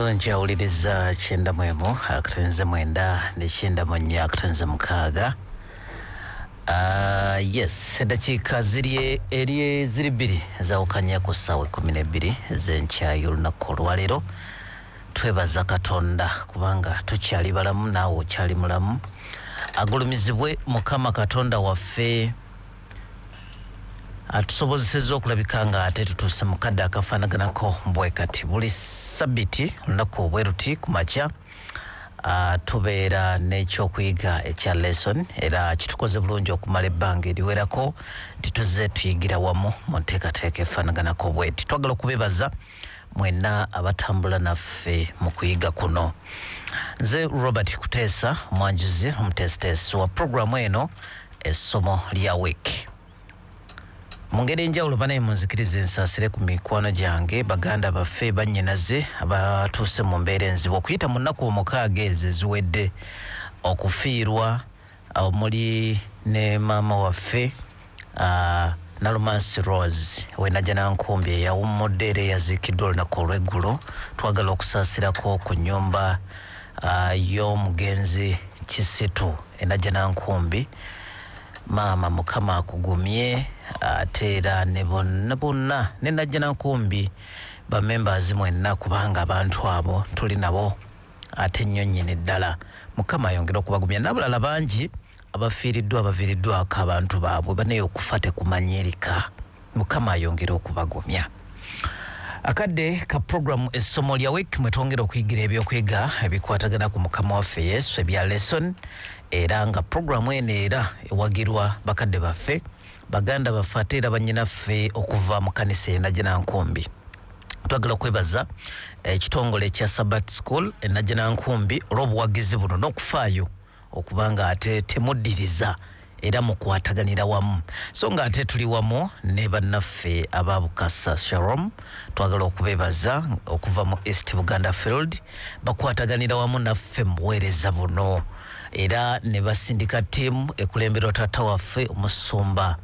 Leero nkyawuliriza kyenda mu emu akatonze mwenda ne kyenda mu nnya akatonze mukaaga Uh, yes eddakiika ziri eri ziri bbiri zawukanya ku ssaawa ekkumi n'ebbiri z'enkya y'olunaku olwaleero twebaza katonda kubanga tukyali balamu naawe okyali mulamu agulumizibwe mukama katonda waffe atusobozesezza okulabika nga ate tutuuse mu kadde akafaanaganako bwe kati buli sabiti olunaku bwe luti ku makya ah, tubeera n'ekyokuyiga ekya lesson era kitukoze bulungi okumala ebbanga eriwerako nti tuzze tuyigira wamu mu nteekateeka efaanaganako bweti twagala okubebaza mwenna abatambula naffe mu kuyiga kuno nze robert kuteesa omwanjuzi omuteesiteesi wa puroguramu eno essomo lya week mu ngeri enjawulo banaye munzikiriza ensaasire ku mikwano gyange baganda baffe bannyinaze abatuuse mu mbeera enzibu okuyita mu nnaku omukaaga ezo eziwedde okufiirwa omuli ne maama waffe Nalumansi Rose ow'e Najjanankumbi eyawummudde era eyaziikiddwa olunaku olw'eggulo. Twagala okusaasirako ku nnyumba y'omugenzi Kisitu e Najjanankumbi. Maama Mukama akugumye ate era ne bonna bonna ne Najjanankumbi ba members mwenna kubanga abantu abo tuli nabo. ate nnyo nnyini ddala. Mukama ayongere okubagumya n'abalala bangi abafiiriddwa abaviiriddwako abantu baabwe banaye okufa tekumanyirika. Mukama ayongere okubagumya. Akadde ka program essomo lya week mwe twongera okuyigira eby'okuyega ebikwatagana ku mukama waffe Yesu ebya lesson era nga program eno era ewagirwa bakadde baffe Baganda baffe ate era bannyinaffe okuva mu kkanisa e Najjanankumbi. Twagala okwebaza ekitongole eh, kya Sabbat School e Najjanankumbi olw'obuwagizi buno n'okufaayo okuba nga ate temuddiriza era mukwataganira wamu so nga ate tuli wamu ne bannaffe aba bukasa sharom twagala okubebaza okuva mu east buganda field bakwataganira wamu naffe mubuweereza buno era ne basindika ttiimu ekulemberwa taata waffe omusumba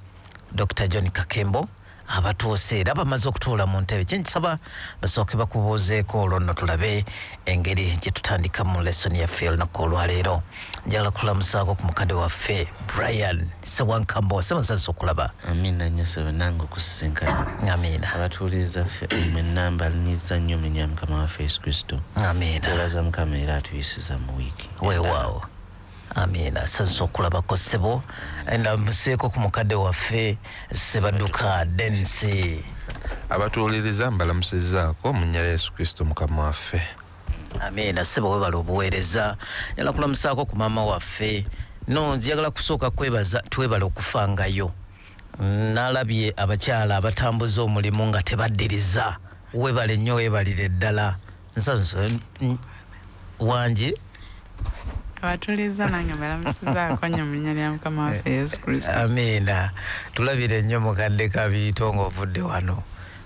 dr john kakembo abatuuse era bamaze okutuula mu ntebe kyenkisaba basooke bakubuuzeeko olwo nno tulabe engeri gye tutandikamu lesoni yaffe olunaku olwaleero njagala kulamusaako ku mukadde waffe brian sewankambo semusazi okulaba amiina nnyo sebe nange okusisinkana amiina abatuuliriza ffe mwenamba lunyiza nnyo munya mukama waffe yesu kristo amiina olaza mukama era atuyisiza mu wiiki weewaawo amiina sazza okulabako ssebo enda museeko ku mukadde waffe sebaduka densi abatuwuliriza mbalamusizaako mu nnyala yesu kristo mukama waffe amiina ssebo webala obuweereza nyala kulamusaako ku maama waffe no njagala kusooka kwebaza twebala okufangayo nalabye abakyala abatambuza omulimu nga tebaddiriza webale nnyo webalire ddala nsanso wangi abatuliza nange mbalamusizaako nnyo mu linnya lya mukama waffe yesu kristo amiina tulabire nnyo mukadde kabiito ng'ovudde wano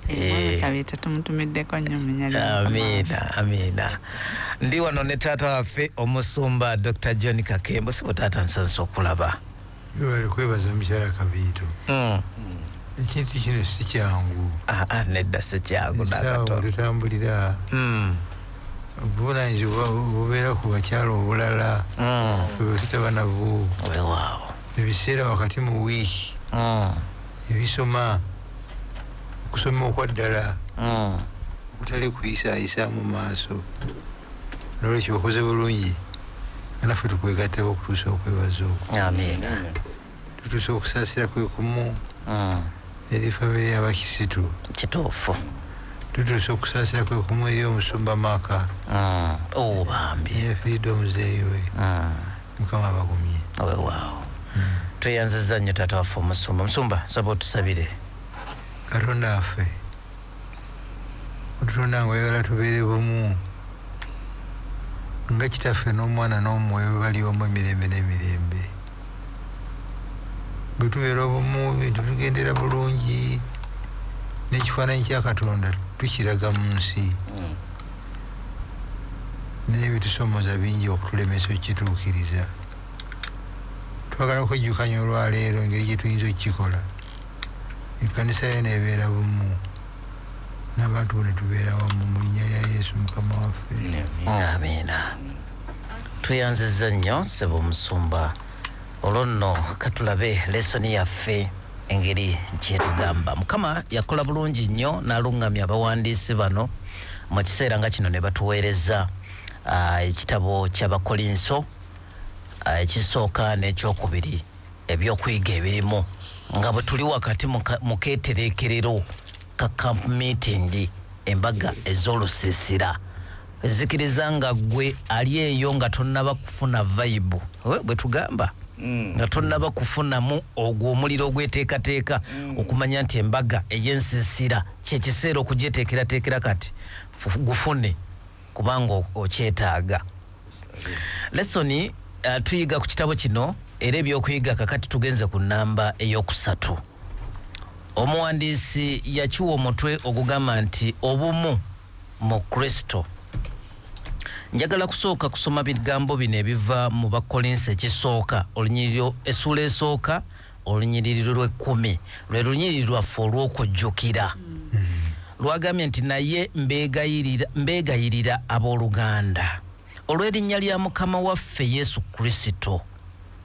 Eh. amiina amiina ndi wano ne taata waffe omusumba dr john kakembo sibo taata nsansa okulaba Webale kwebaza mukyala Kaviito. Mm. Ekintu kino si kyangu. Ah, ah, nedda si kyangu nakatono. Tutambulira. Mm. Obuvunaanyizibwa bubeera ku bakyala obulala. Mm. Ffe bwe tutaba nabwo. Wewaawo. Ebiseera wakati mu wiiki. Mm. Ebisoma. Okusoma okwa ddala. Mm. Okutali kuyisaayisaamu maaso. Nolwekyo okoze bulungi nga naffe tukwegatteko okutuusa okwebaza okwo. Amiina. Tutuusa okusaasira kwe kumu mm. eri famire y'abakisitu. Kituufu. Tutuusa okusaasira kwe kumu eri omusumba maaka. Mm. Oh, bambi. Yafiridde omuzeeyi we. Mm. Mukama abagumye. Wewaawo. Tweyanziza nnyo taata waffe omusumba. Musumba saba otusabire. Katonda waffe. Otutonda nga oyagala tubeere bumu, nga Kitaffe n'Omwana n'Omwoyo bwe bali omu emirembe n'emirembe. Bwe tubeera obumu, ebintu bitugendera bulungi, n'ekifaananyi kya Katonda tukiraga mu nsi. Naye ebitusoomooza bingi okutulemesa okukituukiriza. Twagala okwejjukanya olwaleero engeri gye tuyinza okukikola. Ekkanisa yo n'ebeera bumu, n'abantu bo ne tubeera wamu, mu linnya lya Yesu Mukama waffe. Amiina. Tweyanzizza nnyo Ssebo Omusumba olwo nno ka tulabe lesoni yaffe engeri gy'etugamba. Mukama yakola bulungi nnyo n'aluŋŋamya abawandiisi bano mu kiseera nga kino ne batuweereza ah, ekitabo ky'Abakolinso ah, ekisooka n'ekyokubiri. Eby'okuyiga ebirimu nga bwe tuli wakati mu keetereekerero ka Camp Meeting, embaga ez'olusiisira, nzikiriza nga ggwe ali eyo nga tonnaba kufuna vayibu, bwe tugamba, mm. nga tonnaba kufunamu ogwo omuliro ogweteekateeka mm. okumanya nti embaga ey'ensiisira kye kiseera okugyeteekerateekera kati gufune. kubanga okyetaaga. Lesoni uh, tuyiga ku kitabo kino era ebyokuyiga kakati tugenze ku nnamba ey'okusatu. Omuwandiisi yakiwa omutwe ogugamba nti obumu mu Kristo. Njagala kusooka kusoma bigambo bino ebiva mu Bakkolinsi ekisooka olunyiriro essuula esooka Olunyiriri lw'ekkumi lwe lunyiriri lwaffe olw'okujjukira. Lwagambye nti, Naye mbeegayirira, mbeegayirira abooluganda, olw'erinnya lya Mukama waffe Yesu Kristo,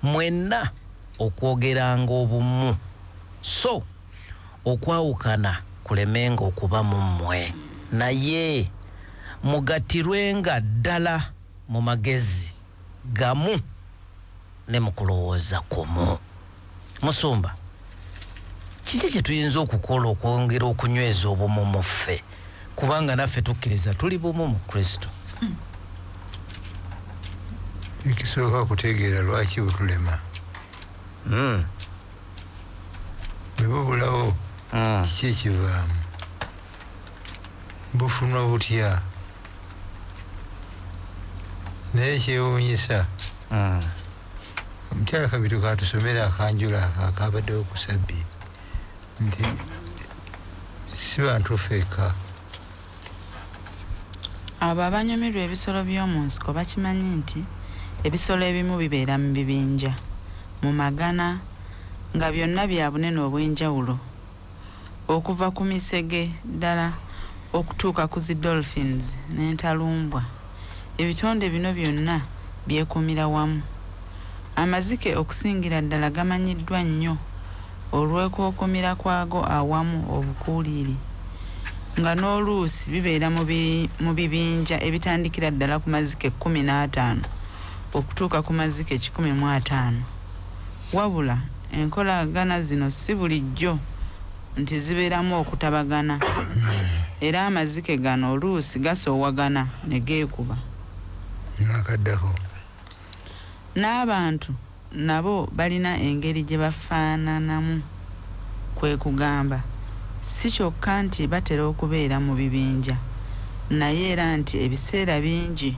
mwenna okwogeranga obumu, so okwawukana kulemenga okuba mu mmwe, naye mugattirwenga ddala mu magezi. gamu ne mu kulowooza kumu. Musumba, kiki kye tuyinza okukola okwongera okunyweza obumu mu ffe, kubanga naffe tukkiriza tuli bumu mu Kristo? Ekisooka kutegeera lwaki butulema. Mm. Bwe bubulawo, mm. kiki ekivaamu? bufunwa butya naye ekyewunyisa mm. omukyala mm. kabiru katusomera akanjula akabaddewo ku sabbi nti si bantu feeka abo abanyumirwa ebisolo by'omu nsiko bakimanyi nti ebisolo ebimu bibeera mu bibinja mu magana nga byonna bya bunene obw'enjawulo okuva ku misege ddala okutuuka ku zi dolphins n'entalumbwa, ebitonde bino byonna byekuumira wamu. Amazike okusingira ddala gamanyiddwa nnyo olw'okwekuumira kwago awamu obukuuliiri, nga n'oluusi bibeera mu bibinja ebitandikira ddala ku mazike kkumi n'ataano okutuuka ku mazike kikumi mu ataano. Wabula enkolagana zino si bulijjo nti zibeeramu okutabagana era amazike gano oluusi gasoowagana ne geekuba. Nakaddako. N'abantu nabo balina engeri gye bafaananamu kwe kugamba si kyokka nti batera okubeera mu bibinja naye era nti ebiseera bingi,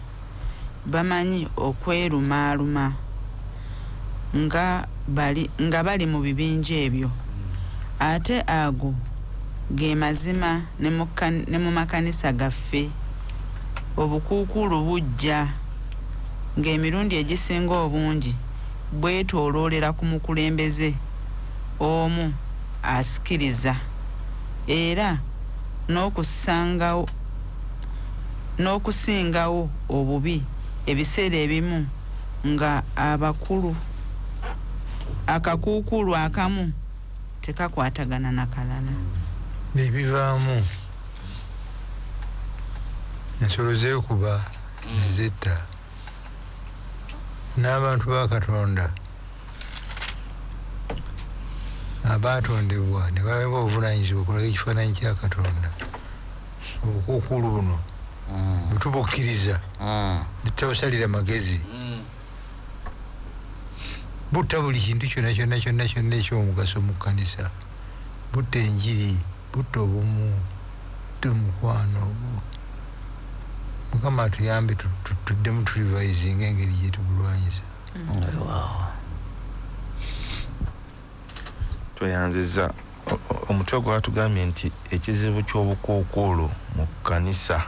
bamanyi okwerumaaluma nga bali nga bali mu bibinja ebyo. Ate ago ge mazima ne mu ne mu makanisa gaffe. Obukuukuulu bujja, ng'emirundi egisinga obungi bwetooloolera ku mukulembeze omu asikiriza, era n'okussangao. n'okusingawo obubi ebiseera ebimu nga abakulu akakuukuulu akamu tekakwatagana na kalala. Bye bivaamu, ensolo zeekuba ne zetta n'abantu ba Katonda abaatondebwa ne baweebwa obuvunaanyizibwa okulaga ekifaananyi kya Katonda. Obukuukuulu buno bwe tubukkiriza ne tutabusalira magezi, butta buli kintu kyonna kyonna kyonna kyonna eky'omugaso mu kkanisa. Butta enjiri, butta obumu, butta omukwano. Mukama atuyambe tuddemu tu revisinge engeri gye tubulwanyisa. Tweyanziza omutwe gwatugambye nti ekizibu ky'obukookolo mu kkanisa,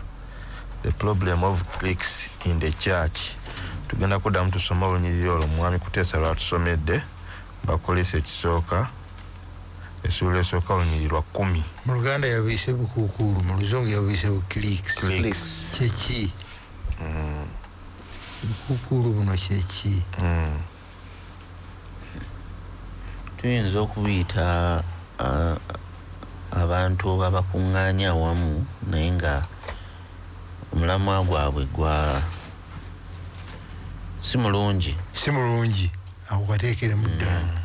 the problem of cliques in the church, tugenda kuddamu tusome olunyiriri olwo Mwami Kuteesa lw'atusomedde, Bakolese ekisooka, essuula esooka olunyiriri lwa kkumi. Mu Luganda yabuyise bukuukuulu, mu Luzungu yabuyise bu cliques. Cliques. Kye ki? Bukuukuulu buno kye ki? tuyinza okubiyita abantu abakuŋŋaanya awamu naye nga omulamwa gwabwe gwa si mulungi si mulungi ako kateekeremu ddala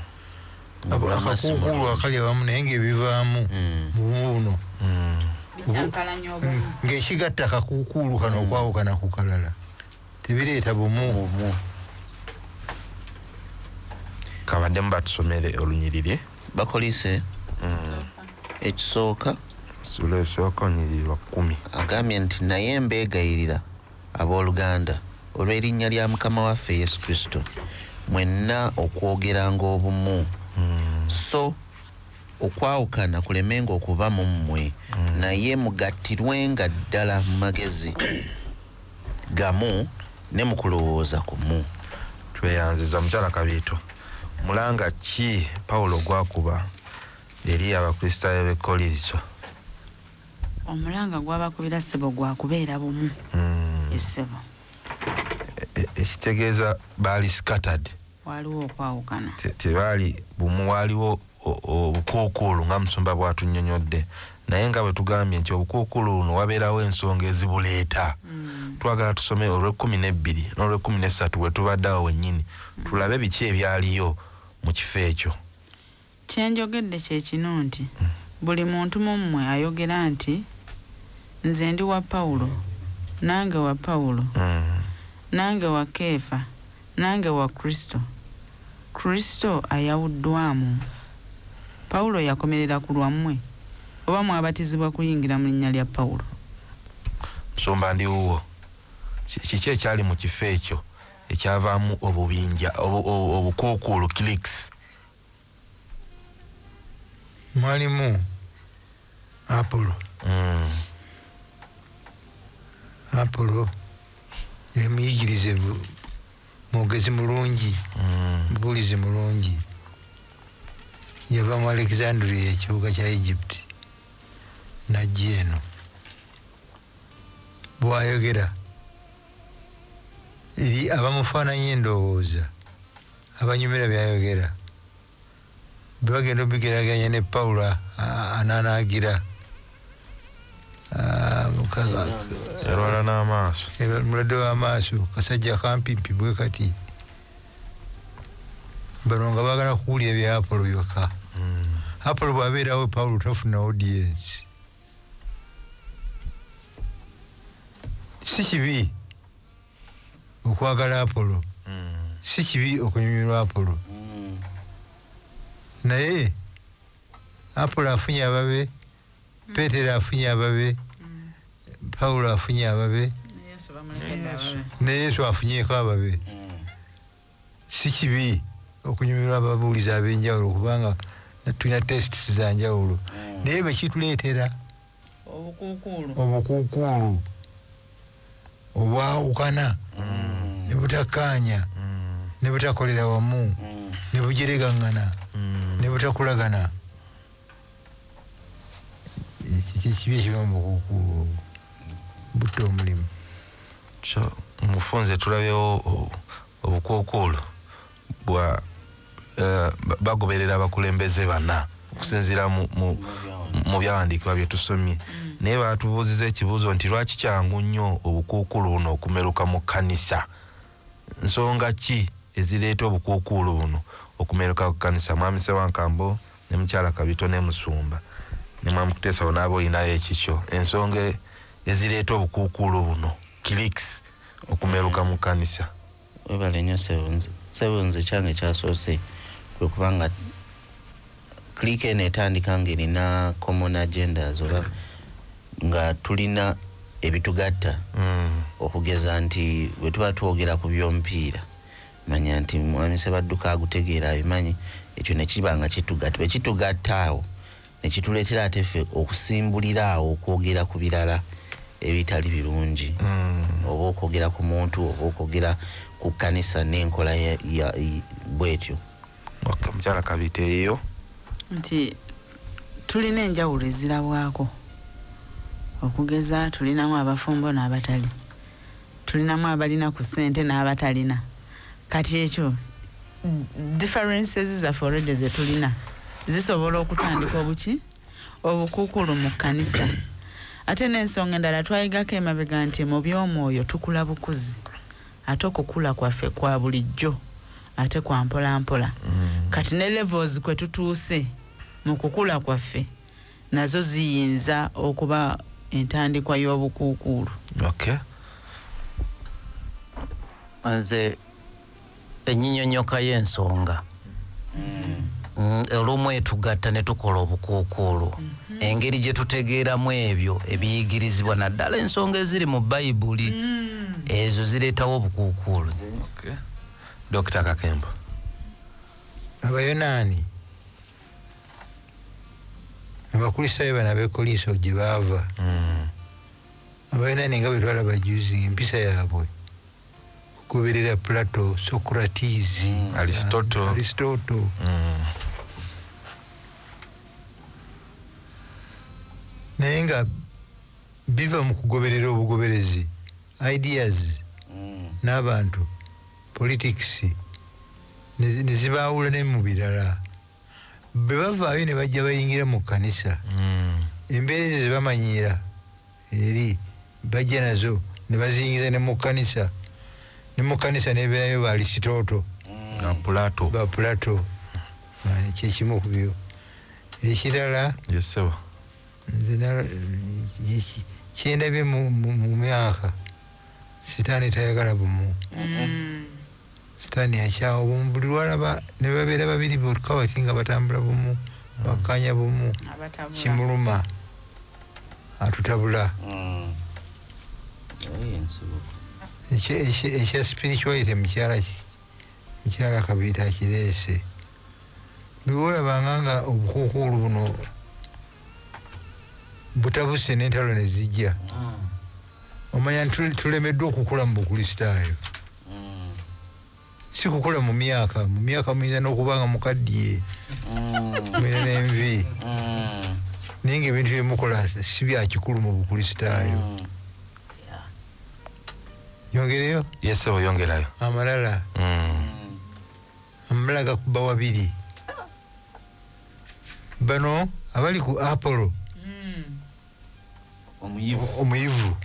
mm. akakuukuulu akali abamu naye ngaebivaamu mm. mubuuno mm. ngaekigatta akakuukuulu kano okwawukana ku kalala tebireeta bumu bumu kabaddemu batusomere olunyiriri bakolise mm. ekisooka sula esooka onyiriri wa kkumi agambye nti naye mbeegayirira abooluganda olw'erinnya lya mukama waffe yesu kristo mwenna okwogeranga obumu mm. so okwawukana kulemenga okuba mu mmwe mm. naye mugattirwenga ddala mu magezi gamu ne mu kulowooza kumu. Tweyanziza mukyala Kabiito. Mulanga ki Pawulo gw'akuba eri Abakristaayo b'e Kkolinso? Omulanga gw'abakubira ssebo gwa kubeera bumu. Ssebo. Ekitegeeza baali scattered. Waaliwo okwawukana. Te, tebaali bumu. Waaliwo o, o, obukuukuulu, nga Musumba bw'atunnyonyodde. Naye nga bwe tugambye nti, obukuukuulu buno wabeerawo ensonga ezibuleeta. Mm. Twagala tusome olw'ekkumi n'ebbiri n'olw'ekkumi n'essatu we tubadde awo wennyini, tulabe biki ebyaliyo mu kifo ekyo. Kye njogedde kye kino nti, Buli muntu mu mmwe ayogera nti, Nze ndi wa Pawulo, nange wa Pawulo, nange wa Keefa, nange wa Kristo. Kristo ayawuddwamu? Pawulo yakomerera ku lwammwe, oba mwabatizibwa kuyingira mu linnya lya Pawulo? Musumba, ndi wuwo. Ki, kiki ekyali mu kifo ekyo ekyavaamu obubinja, obu, obu, obukuukuulu, cliques? mwalimu apolo mm. apolo yali muyigirize mwogezi mulungi mm. mubuulizi mulungi yava mu alexandria ekibuga kya egypt najja eno bwayogera eri abamufaananyi endowooza abanyumira byayogera bwebagenda obigeraganya ne Paul ananagira yalwala n'amaaso mulwadde w'amaaso kasajja kampimpi bwe kati bano nga bagala kuwulira bya apolo byokka hmm. apolo bwabeerawo pawulo tafuna audiensi si kibi okwagala apolo mm. si kibi okunyumirwa apolo mm. naye apolo afunye ababe mm. petero afunye ababe mm. pawulo afunye ababe ne yesu afunyeko ababe mm. si kibi okunyumirwa ababuulizi ab'enjawulo kubanga tulina tests za njawulo hmm. naye bwe kituleetera obukuukuulu obwawukana hmm. ne butakkaanya hmm. ne butakolera wamu ne bujeregaŋŋana ne butakulagana kyekibi ekiba mubukukuulu obwo butta omulimu kyo mufunze tulabyewo obukuukuulu bwa eh, bagoberera abakulembeze bana okusinziira mu byawandiikibwa byetusomye mm. naye batubuuziza ekibuuzo nti lwaki kyangu nnyo obukuukuulu buno okumeruka mu kkanisa Nsonga ki ezireeta obukuukuulu buno okumeruka ku kanisa? Mwami Ssewankambo ne Mukyala Kabito ne Musumba ne Mwami Kuteesa bonna oba olinayo ekikyo? Ensonga ezireeta obukuukuulu buno, cliques, okumeruka mu kanisa? Webale nyo sebo nze sebo nze ekyange ekyasoose kwekuba nga. clique eno etandika nga erina common agendas oba nga tulina ebitugatta mm. okugeza nti bwetuba twogera ku by'omupiira manya nti mwami sebadduka agutegeera abimanyi ekyo nekiba nga kitugatta bwe kitugatta awo nekituleetera ate ffe okusimbulira awo okwogera ku birala ebitali birungi mm. oba okwogera ku muntu oba okwogera ku kkanisa n'enkola bwetyo Okay, mukyala kabite eyo. Nti tulina enjawulo ezirabwako okugeza tulinamu abafumbo n'abatali tulinamu abalina ku ssente n'abatalina kati ekyo differences zaffe olwedde ze tulina zisobola okutandika obuki Obukuukulu mu kkanisa. Ate n'ensonga endala twayigako emabega nti mu by'omwoyo tukula bukuzi. Ate okukula kwaffe kwa bulijjo ate kwa mpolampola. Mm. Kati ne levels kwe tutuuse mu kukula kwaffe nazo ziyinza okuba entandikwa y'obukuukuulu. Okay. Nze enyinyonyoka y'ensonga mm, olumu etugatta ne tukola obukuukuulu mm-hmm. engeri gye tutegeeramu ebyo ebiyigirizibwa naddala ensonga eziri mu bayibuli mm. ezo zireetawo obukuukuulu dokita kakembo abayonaani abakristaayo bana bekoliiso gye baava mm. abayonaani nga bwe twalaba juzi empisa yaabwe okugoberera Plato, Socrates, mm, Aristotle, Aristotle. Mm. naye nga biva mu kugoberera obugoberezi ideas mm. n'abantu politics nezibaawula ne mu birala bwe bavaayo ne bajja bayingira mu kkanisa mm. embeera ezo zebamanyiira eri bajja nazo nebaziyingiza ne mukanisa ne mukanisa neberayo ba lisitooto mm. ba pulato kyekimu kubyo ekirala kyendabye mu myaka sitani tayagala bumu sitani akyawa bumu buli lwalaba nebabeera babiri bokka wati nga batambula bumu bakkaanya bumu kimuluma atutabula mm. ekya spirituality mukyala mukyala kabiita akireese bweolabanga nga obukuukuulu buno butabuse nentalo nezijja mm. omanya nti tulemeddwa okukula mu bukristaayo mm. si kukula mu myaka mu myaka muyinza n'okuba nga mukaddiye mm. mulina n'envi mm. naye nga ebintu byemukola si byakikulu mu bukristaayo yongereyo yesebo yongerayo amalala amalala gakuba wabiri bano abali ku apollo omuyivu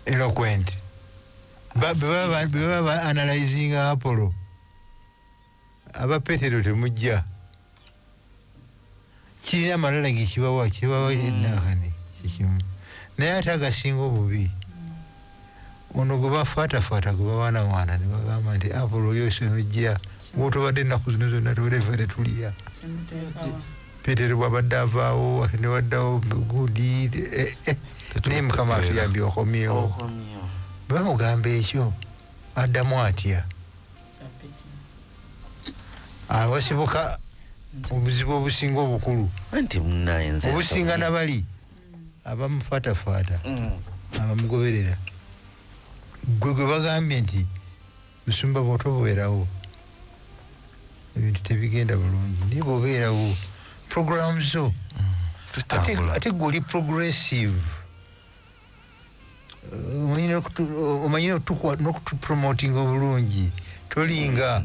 eloquent bebaba analyzing apollo aba petero temujja kirina amalala gekibawa kibawa enahani kikimu naye ate agasinga obubi Ono gwe bafaatafaata gwe bawaanawaana ne bagamba nti Apollo oli oyise n'ojja w'otobadde ennaku zino zonna tubadde ffe tetuliya. Peetero bw'abadde avaawo ate ne waddawo gundi eh, eh. naye Mukama atuyambye okomyewo. Bwe bamugamba ekyo addamu atya? Abasibuka obuzibu obusinga obukulu obusinga na bali abamufaatafaata abamugoberera gwe gwe bagambye nti musumba bwotobeerawo ebintu tebigenda bulungi naye bwobeerawo program zo mm, ate gwe oli progressive uh, omanyi nokutupromotinga obulungi tolinga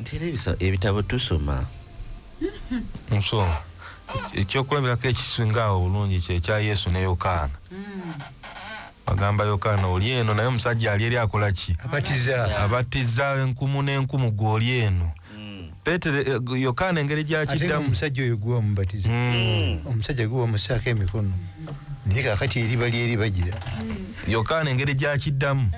Nti era ebisa, ebitabo tusoma. So, ekyokulabirako ekisinga awo obulungi kye kya Yesu ne Yokaana. Agamba Yokaana, oli eno, naye omusajja ali eri akola ki? Abatiza. Abatiza enkumu n'enkumu, ggwe oli eno. Peetero, eh, gu- Yokaana engeri Ate nga gy'akiddamu. omusajja oyo gwe wamubatiza. Mm. Omusajja gwe wamussaako emikono. Naye kaakati eriba lyeri bagira. Yokaana engeri gy'akiddamu.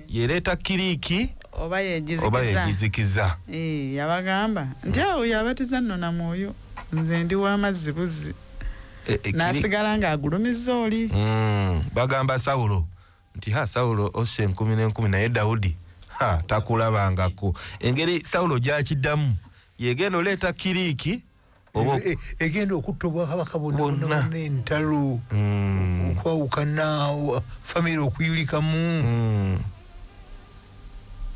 Yereeta kiriiki. oba yegizikiza eh, yabagamba nti awo hmm. yabatiza nno na mwoyo nze ndi w'amazzi buzzi eh, eh, nasigala ng'agulumiza oli hmm, bagamba sawulo nti ha sawulo ossa enkumi n'enkumi naye dawudi ha takulabangako engeri sawulo gyakiddamu yegenda oleeta kiriiki E, egenda okutta obwakabaka bonna entalo mm. okwawukana famiry okuyulikamu mm.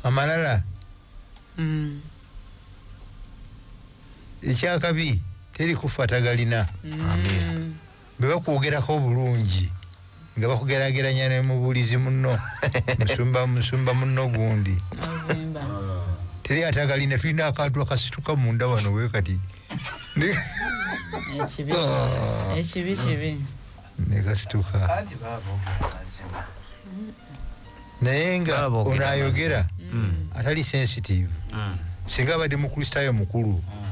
amalala mm. ekyakabi teri kufa tagalina Bwe bakwogerako obulungi nga bakugeraageranya ne mubuulizi munno, musumba, musumba munno gundi. Teri atagalina, tulina akantu akasituka munda wano bwe kati. Ekibi, ah. ekibi kibi. Ne kasituka. Kati baabo mazima. Naye nga ono ayogera mm. atali sensitive. Mm. Singa abadde Mukristaayo mukulu. Mm.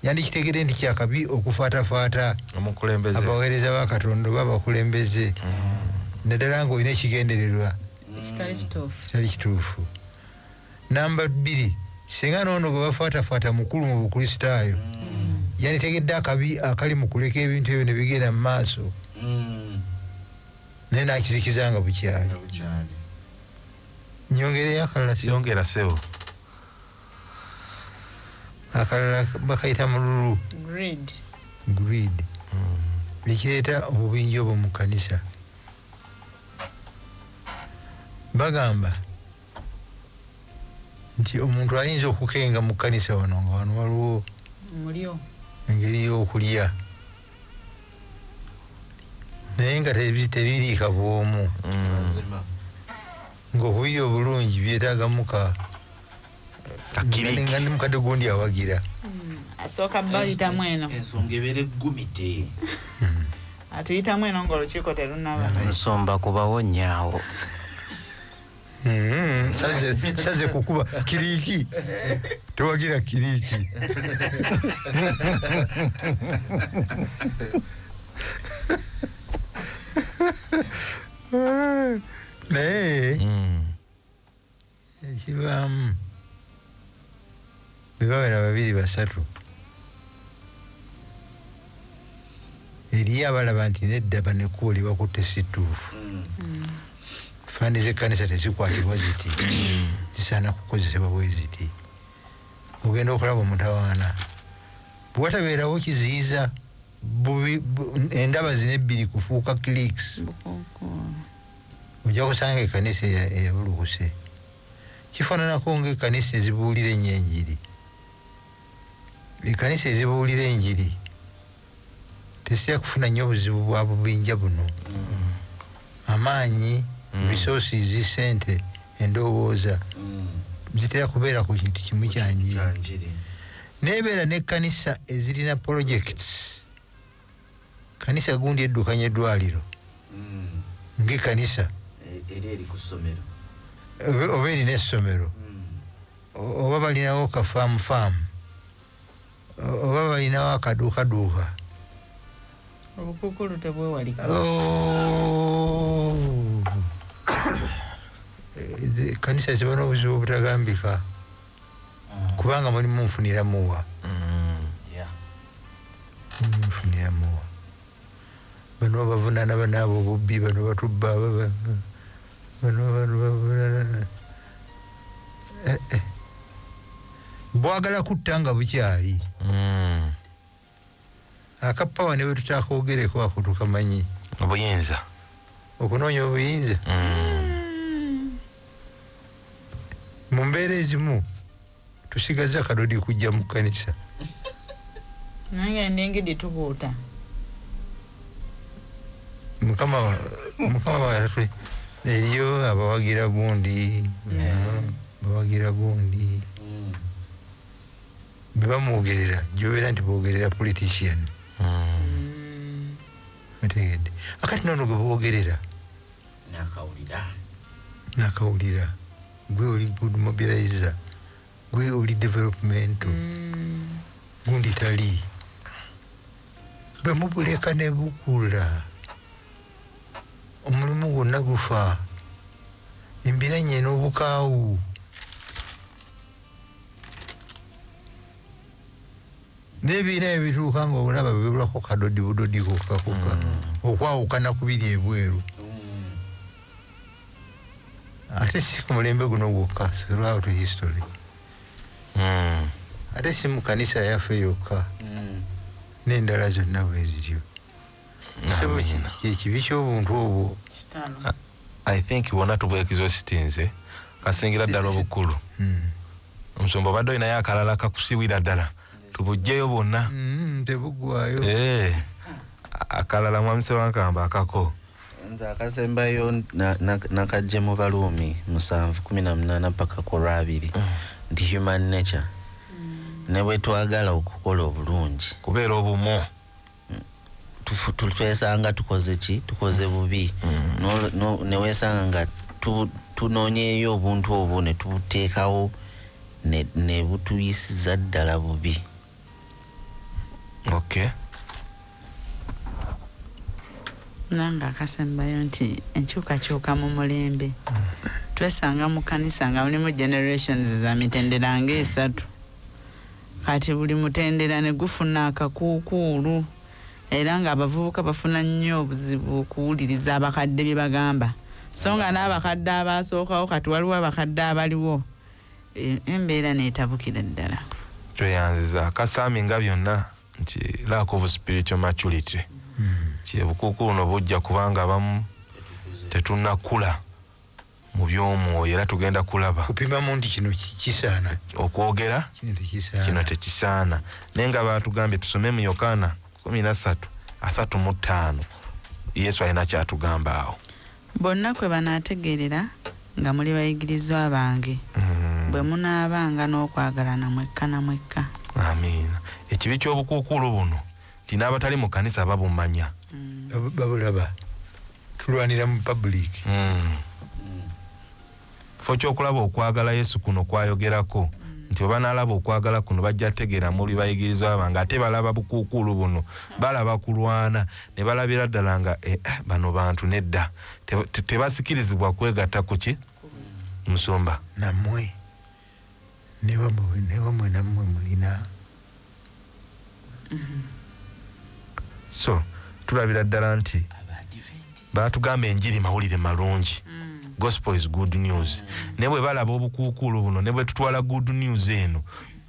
yandikitegedde nti kyakabi okufaatafaata abaweereza ba katonda oba abakulembeze mm. naddala ng'olina ekigendererwa kitali kituufu namba bbiri singa noono gwe bafaatafaata mukulu mu bukristaayo mm. yanditegedde akabi akali mu kuleka ebintu ebyo ne bigenda mu maaso mm. naye n'akizikiza nga bukyali nyongereyo akalala akalala bakayita mululu greed, greed. Mm. ne kireeta obubinja obwo mu kanisa bagamba nti omuntu ayinza okukenga mu kanisa wano nga wano waliwo mulyo engeri y'okulya naye nga tebiriika bwomu mm. Nga obuyiya obulungi byetaaga muka nga ne mukadde gundi awagira hmm, asooka bayitamu eno ensonga ebeera eggumidde hmm. atuyitamu eno nga olukiiko terunaba nsomba kubawonyaawo hmm, saze kukuba kiriki tewagira kiriki naye ekivaamu bebabera babiri basatu eriyo abalaba nti nedda banekkubo lyebakutte si ttuufu fandi zekkanisa tezikwatibwa ziti zisaana kukozesebwa bwe ziti ogenda okulaba omutawaana bwewatabeerawo kiziyiza bubi endaba zino ebbiri kufuuka clicks ojja kusanga ekanisa eyabulukuse kifananako nga ekanisa ezibuulira enyo enjiri ekanisa ezibuulira enjiri tezitera kufuna nnyo obuzibu bwa bubinja buno amaanyi mm. resources sente endowooza mm. zitera kubeera ku kintu kimu kyanjiri nebeera ne kanisa ezirina projects kanisa gundi eddukanya eddwaliro mm. nge kanisa oba erina essomero mm. oba balinawo ka faamu faamu oba balinawo akaduukaduuka obukukulu tebwewalika oh. eh, kanisa ziba n'obuzibu obutagambika kubanga mulimu nfunira muwa nfunira muwa bano bavunana banaabo obubbi bano batubba bano bano bavunana eh, eh. bwagala kutta nga bukyali mm. Aka power ne wetutakogereko ako tukamanyi. Obuyinza. Okunoonya obuyinza. Mm. Mu mbeera ezimu tusigaza kadodi kujja mu kanisa. Nange ndengede tubuuta. Mukama mukama watwe eriyo abawagira gundi. Yeah. Abawagira gundi. bebamwogerera jobera nti bogerera politician otegedde akati nono gwe bogerera nakawulira nakawulira gwe oli good mobilizer gwe oli developmental mm. gundi tali bwe mubuleka ne bukula omulimu gwonna gufa embira nyena obukaawu nebiina ebituuka nga olaba bebulako kadodi budodi kokakoka mm. okwawukana kubiri ebweru mm. ate si ku mulembe guno gwokka throughout history mm. ate si mu kanisa yaffe yokka nendala zonna bweziryo kyekibi kyobuntu obwo i think wona tubwekizo sitinze kasingira ddala obukulu hmm. omusumba obadde olinayo akalala kakusiwira ddala tubujjeyo bwonna hmm, tebugwayo eh, akalala mwami sewankamba akako nze akasembayo nakajje mu baluumi musanvu kumi na munaana paka ku lwabiri hmm. nti human nature ne bwetwagala okukola obulungi kubeera obumu twesanga tukoze ki tukoze mm. bubi mm. newesanga nga tunonyeyo obuntu obwo netubuteekawo nebutuyisiza ddala bubi okay nanga akasembayo nti enkyukakyuka mu mulembe mm. twesanga mu kanisa nga mulimu generations za mitendera nga esatu Kati buli mutendera ne gufuna akakuukuulu era ng'abavubuka bafuna nnyo obuzibu okuwuliriza abakadde bye bagamba so nga n'abakadde abaasookawo kati waliwo abakadde abaliwo e, embeera n'etabukira ddala. Tweyanziza aka Sami nga byonna nti lack of spiritual maturity hmm. kye bukuukuulu no bujja kubanga abamu tetunnakula. mu by'omwoyo, era tugenda kulaba. Kupimamu nti kino kisaana. Okwogera. Kino tekisaana. Kino tekisaana. Naye nga baatugambye tusome mu Yokaana kumi na ssatu asatu mu ttaano. Yesu alina ky'atugamba awo. Bonna kwe banaategeerera nga muli bayigirizwa bange, mm-hmm. bwe munaabanga n'okwagalana mwekka na mwekka. Amiina. Ekibi ky'obukuukuulu buno. Nti n'abatali mu kanisa babumanya. Mm. Babulaba. Tulwanira mu public. Mm. Fo kyokulaba okwagala Yesu kuno kwayogerako mm. nti oba nalaba okwagala kuno bajja tegera muli bayigirizwa bange ate balaba bukuukuulu buno balaba kulwana ne balabira ddala nga eh, eh bano bantu nedda tebasikirizibwa kwegatta kuki musumba namwe Newamwe namwe mulina so tulabira ddala nti batugamba enjiri mawulire malungi gospel is good news naye bwe balaba obukuukuulu buno ne bwe tutwala good news eno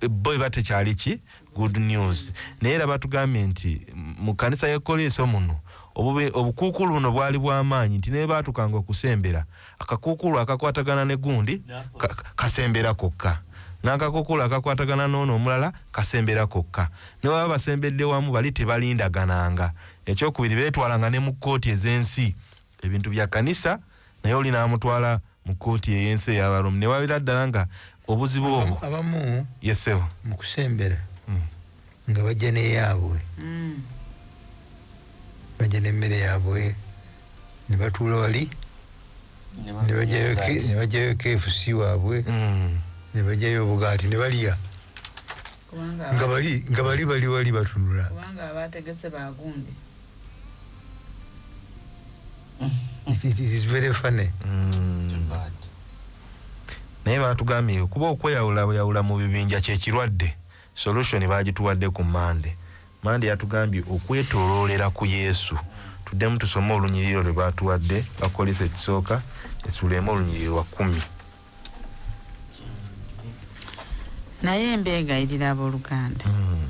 bo eba tekyali ki good news naye era batugambye nti mu kanisa ya koleeso muno obukuukuulu buno bwali bw'amaanyi nti ne bwe baatukanga okusembera Akakuukuulu akakwatagana ne gundi ka, kasembera kokka, n'akakuukuulu akakwatagana n'ono omulala kasembera kokka. Ne bwe baba basembedde wamu, bali tebalindagananga. Eky'okubiri, beetwalanga ne mu kkooti ez'ensi, ebintu bya kkanisa, naye oli n'amutwala mu kkooti ey'ensi eya Baroomu, ne babeera ddala nga Obuzibu obwo. Abamu. Yes sebo. Mukusembera. Mm. Nga bajja ne yabwe. Mm. Bajja ne mere yabwe. Ne batula wali. Ne bajja yo ke, ne bajja yo KFC wabwe. Mm. Ne bajja yo bugati ne baliya. Nga bali, nga bali bali wali batunula. Kubanga abategese bagunde. naye batugambye kuba okweyawulayawula mu bibinja kyekirwadde solution bagituwadde ku mande mande yatugambye okwetoloolera ku yesu tuddemu tusome olunyiriro lwe batuwadde bakolesa ekisooka esuleemu olunyiriro lwa kumi naye mbeegayirira abooluganda mm.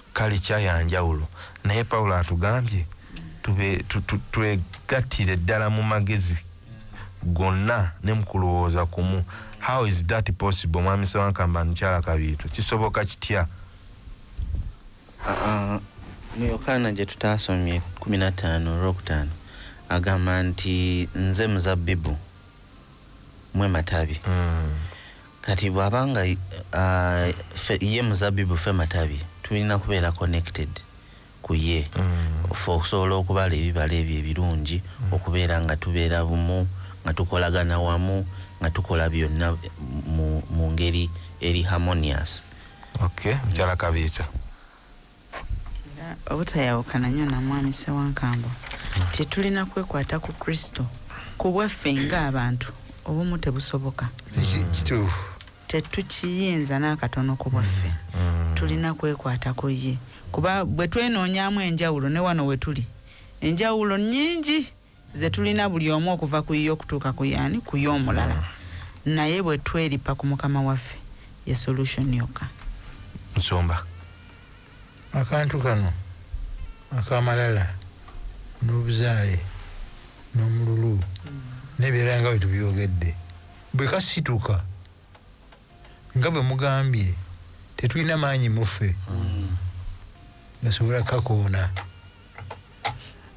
Kale kya ya njawulo. Naye Pawulo atugambye tube, tu, tu, twegattire ddala mu magezi gonna ne mu kulowooza kumu. How is that possible, Mwami Ssewankambo and Mukyala Kabiito? Kisoboka kitya? Uh, mu Yokaana gye tutaasomye kumi na ttaano olwokutaano agamba nti nze muzabbibu. mwe matabi mm. kati bwaba nga uh, ye muzabibu fe matabi tulina kubeera connected ku ye mm. fe okusobola okubala ebibala ebyo ebirungi mm. okubeera nga tubeera bumu nga tukolagana wamu nga tukola byonna mu ngeri eri harmonious okay. mm. era obutayawukana nnyo na Mwami Ssewankambo nti tulina kwekwata ku Kristo ku bwaffe ng'abantu obumu tebusoboka. Kituufu. Tetukiyinza n'akatono ku bwaffe. Mm, mm. Tulina kwekwata ku ye kuba bwe twenoonyaamu enjawulo ne wano we tuli enjawulo nnyingi. zetulina buli omu okuva ku yiye okutuuka ku yaani ku yomulala naye bwetweripa ku mukama waffe ye solution yokka. Nsumba akantu kano akamalala nobuzaale nomululu nebirala nga bwetubyogedde bwekasituka nga bwemugambye tetulina maanyi muffe gasobola kakoona.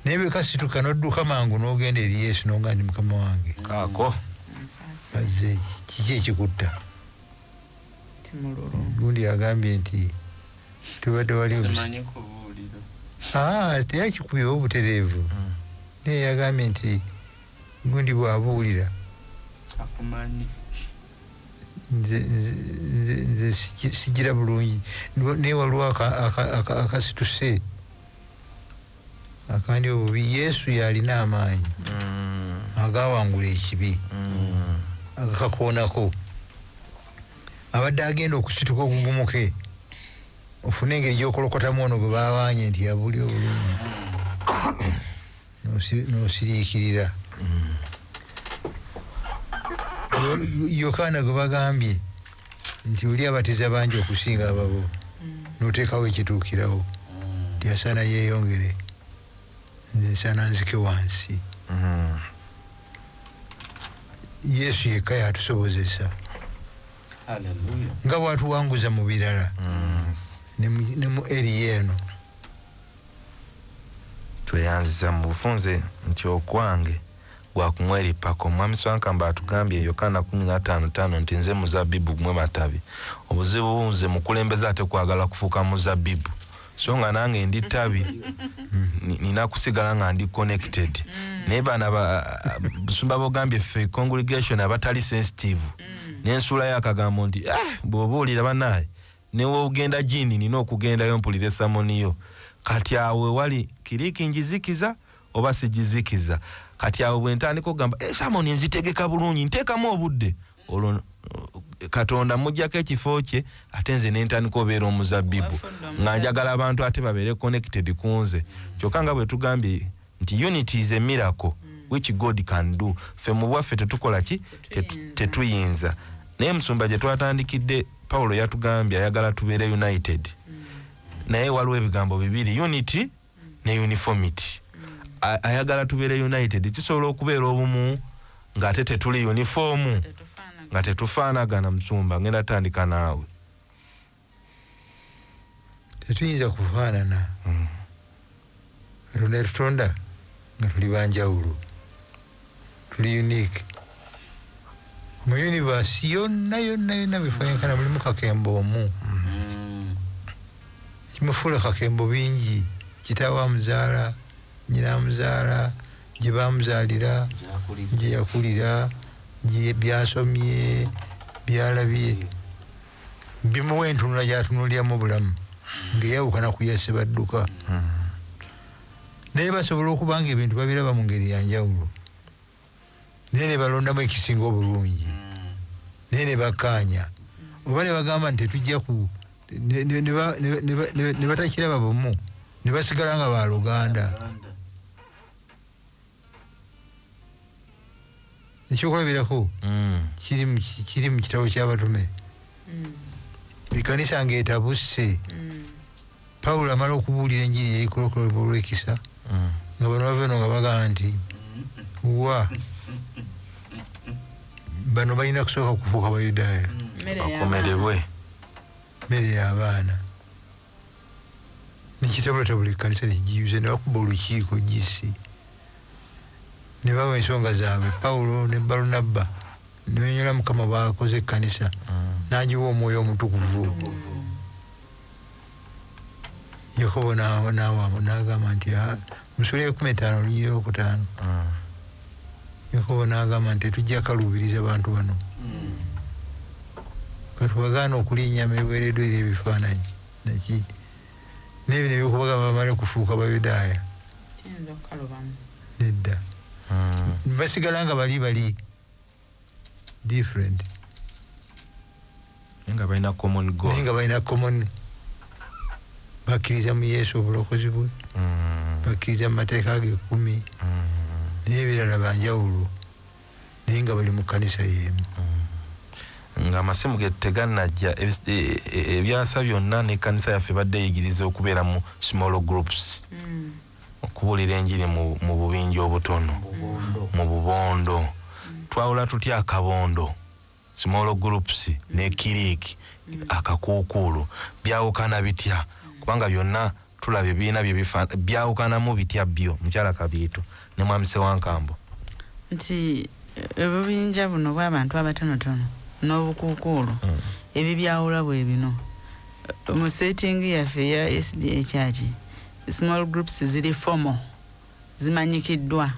naye bwe kasituka n'odduka mangu n'ogenda eri yesu nonga ndi mukama wange kaako aze kiki ekikutta gundi yagambye nti tubadde wali ah, teyakikubiwa obutereevu hmm. naye yagambye nti gundi bwabuulira akumanyi nze nze nze nze siji- sijira bulungi Nwa- naye waliwo aka- aka- aka- akasituse akandi obubi yesu yalina amaanyi agawangula ekibi agakakoonako abadde agenda okusituka ogugumuke ofune engeri gyokolokotamu ono gwe bawanye nti yabuli obulungi n'osiriikirira yokaana gwe bagambye nti oli abatiza bangi okusinga ababo n'oteekawo ekituukirawo nti asaana yeeyongere nze nsaana nzike wansi yesu yekka yatusobozesa nga bwatuwanguza mu birala ne mu eriya eno Tweyanziza mu bufunze nti okwange gwa kumwerippako. Mwami Swankamba atugambye, Yokaana kumi na taano ttaano, nti nze muzabbibu mmwe matabi. Obuzibu nze mukulembeze ate kwagala kufuuka muzabbibu so nga nange ndi ttabi nina kusigala nga ndi connected naye bana busumba bogambye ffe congregation abatali sensitive nensuulayo akagambo nti ah, bw'obuulira banaye Newogenda jini nina okugendayo mpulire samoni yo kati awo wewali kiriki njizikiza oba sijizikiza kati awo bwentandika ogamba esamoni nzitegeka bulungi ntekamu obudde olwo katonda mujako ekifo kye ate nze nentandika obera omuzabibu nga njagala abantu ate babere connected kunze kyoka nga bwetugambye nti unity is a miracle which God can do ffe mubwaffe tetukola ki tetuyinza naye musumba gyetwatandikidde Paulo yatugambye ayagala tubeere united naye waliwo ebigambo bibiri unity ne uniformity ayagala tubeere united kisobola okubeera obumu nga ate tetuli uniform nga tetufaanagana musumba ngenda tandika naawe tetuyinza kufaanana katonda yatutonda nga tuli banjawulo tuli unique mu univasi yonna yonna yonna befayenkana mulimu kakembo omu kimufuula kakembo bingi kitaawe amuzaala nyina amuzaala gye bamuzaalira gye yakulira byasomye byalabye bimuwa entunula gyatunuliramu obulamu ng'eyawukana ku ya Ssebadduka. Naye basobola okuba ng'ebintu babiraba mu ngeri ya njawulo naye ne balondamu ekisinga obulungi naye ne bakkaanya oba ne bagamba nti tetujja ku ne batakiraba bumu ne basigala nga baaluganda. ekyokulabirako mm. kiri mu kitabo kyabatume mm. ekanisa nga etabuse mm. pawulo amala okubuulira enjiri yaikolokoloba olwekisa nga bano baveno nga bagamba nti wa bano balina kusooka kufuuka bayudaaya bakomerebwe mere yabaana nekitabulatabula ekkanisa nekigiyuza nebakuba olukiiko GC nebawa ensonga zaabwe Pawulo ne Balunabba nebanyonyola Mukama bwakoze ekkanisa mm. nagiwa omwoyo omutukuvu Yakobo nagamba nti ah, Mu sula ey'ekumi etaano olunyiriri olw'okutaano, Yakobo n'agamba nti, Tetujja kaluubiriza bantu bano. Ka tubagaane okulya ennyama eweereddwa eri ebifaananyi, na ki, n'ebino eby'okubagamba bamale kufuuka Bayudaaya. Nedda. Basigala nga bali bali. different nga balina common goal naye nga balina common bakkiriza mu yesu obulokozi bwe mm. bakkiriza mu mateeka ge kumi mm. naye ebirala banjawulo naye nga bali mu kkanisa yeemu mm. nga amasimu ge teganajja e, e, e, ebyasa byonna n'ekkanisa yaffe badde eyigiriza okubeera mu small groups Okubuulira enjiri mu mu bubinja obutono, mu bubondo. Twawula tutya akabondo, small groups, ne kiriiki, akakuukuulu? Byawukana bitya? Kubanga byonna tulabye birina bye bifa, byawukanamu bitya byo? Mukyala Kabiito ne Mwami Ssewankambo. Nti obubinja buno bw'abantu abatonotono n'obukuukuulu ebibyawula bwe bino, Mu setting yaffe eya SDA Church, Small groups ziri formal, zimanyikiddwa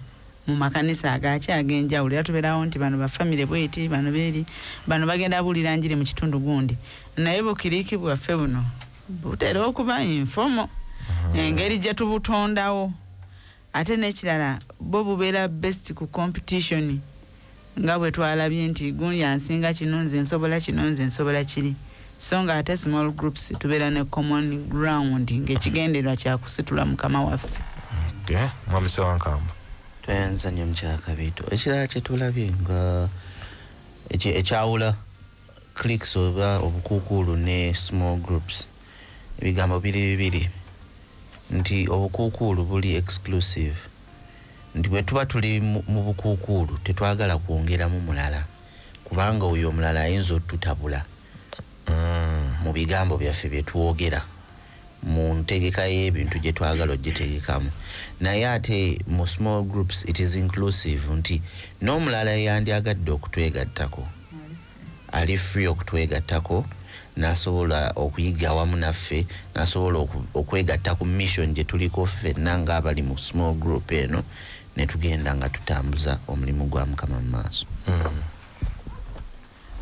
mu makanisa agaaki ag'enjawulo era tuberawo nti bano ba family bweti, bano beri, bano bagenda buulira njiri mu kitundu gundi naye Bukiriki bwaffe buno butera okuba informal engeri gye tubutondawo ate n'ekirala bwo bubeera based ku competition. nga bwe twalabye nti gundi ansinga kino nze nsobola kino nze nsobola kiri so nga ate small groups tubeera ne common ground ng'ekigendererwa kyakusitula mukama waffe okay. mwami sewankamba tweyanza nnyo mukyakabiito ekirala kyetulabye nga ekyawula clicks oba obukuukuulu ne small groups Ebigambo biri bibiri nti obukuukuulu buli exclusive, nti bwe tuba tuli mu bukuukuulu tetwagala kwongeramu mulala kubanga oyo omulala ayinza otutabula mu bigambo byaffe bye twogera mu ntegeka y'ebintu gye twagala ogitegekamu. Naye ate mu small groups it is inclusive nti n'omulala eyandyagadde okutwegattako, ali free okutwegattako nasobola okuyiga awamu naffe nasobola okwegatta ku mission gyetuliko ffenna nga abali mu small group eno netugenda nga tutambuza omulimu gwa mukama mu maaso mm.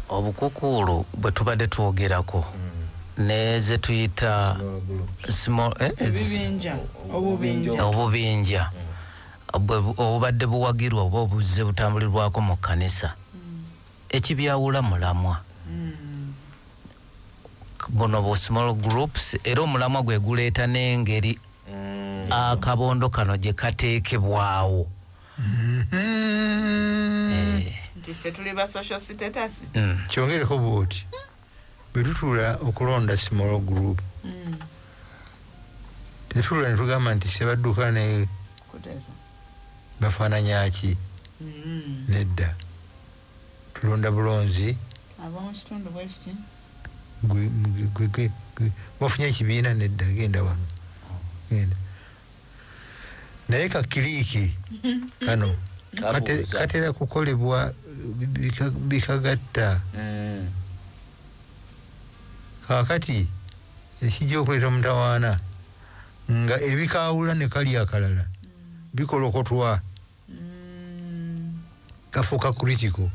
obukukuulu bwetubadde twogerako mm. nezetuyita eh, obubinja obubadde buwagirwa oba obuzze butambulirwako mu kkanisa Ekibyawula mulamwa buno bu small groups era omulamwa gwe guleeta n'engeri akabondo kano gye kateekebwawo. Nti ffe tuli ba social status? Kyongereko bw'oti. Bwetutuula okulonda small group tetuula netugamba nti Ssebadduka ne Kutesa bafananya ki? Nedda. Tulonda bulonzi. Abomukitundu bwekiti. Gwe gwe gwe wafunye ekibiina? Nedda genda wano genda. naye ka kiliiki kano katera kukolebwa bikagatta mm. kakati ekijja okuleeta mutawaana nga ebikaawula ne kali akalala mm. bikolokotwa mm. kafuuka critical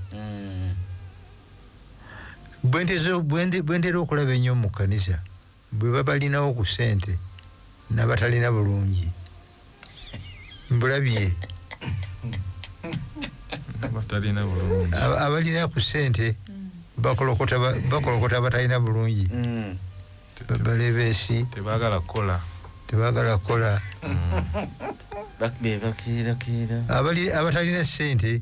bwentera okulaba ennyo mu kkanisa Bwebabalinawo ku sente nabatalina bulungi mbulabye abalina ku sente bakolokota bakolokota abatalina bulungi balebesi tebagala kola tebagala kola mm. abatalina sente